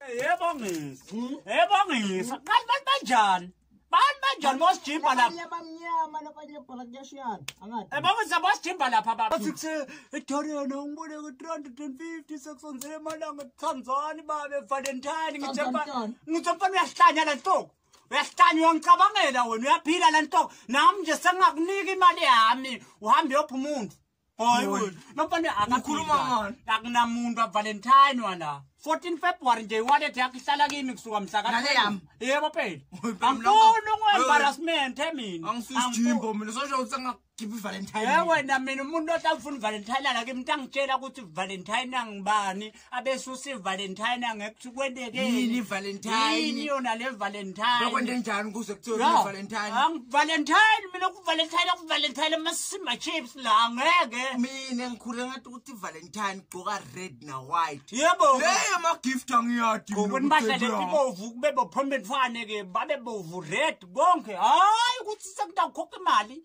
Yebo ngisa. Hmm? Yebo ngisa. Kanti bantu banjani? Bantu banjani bosijimba lapha? Abanye abamnyama nabanye bhala kuyashiyana. Angathi. Eh bakuza bosijimba lapha baba. Sikuthi iDorian ngibone ku 350 sekusonzele emalanga Tanzania babe Valentine ngithe ngithe mfana uyahlanya la ntoko. Uyahlanya uyangicabangela wena uyaphila la ntoko. Nami nje sengakunika imali yami uhambe yopha umuntu. Hayi Yona. wena. Nomfana Ukhuluma akakhuluma. ngani? Akunamuntu aValentine wala. 14 February nje wallet yakhe ihlala kimi kusuka mhla ka. Nale yami. Yebo phela. Oy, phela mlaka. Angifuni Oy. ukweembarrassment mina. angisisijimbo mina sosho ukuthi angakhipha ivalentine Yebo wena mina umuntu ohlawufuna uValentine la kimi ntangitshela ukuthi uValentine angibani. abesusi valentine angekuthi kwentekeyini valentine yona le valentine bekwente njani kuze kuthiwa valentine valentine mina kuvalentine kuvalentine amasima chips la ngeke mina ngikhule ngathi ukuthi valentine gqoka red na white yebo leyo ma gift angiyadi ngokuthi bahlale ibovu kube bophombe mfane ke babe bovu red konke hayi ukuthi sekudakhokha imali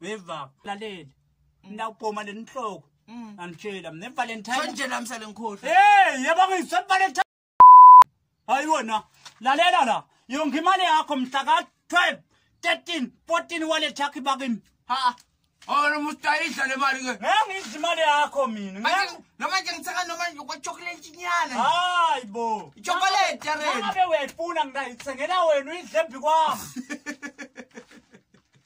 weva laleli ndawubhoma le nhloko mm. anditshela mna evalentineeyebongiswa evalentine hayi wona lalela la yonke imali yakho mhla ka-12 13 14 wallet yakho ibakini ha Ora mustayisha le mali ke. Ngangidla imali yakho mina. Manje noma nje ngithaka noma kwa chocolate nyana. Hayi bo. Chocolate re. Ngabe uyayifuna ngidayithengela wena uyidle embi kwami.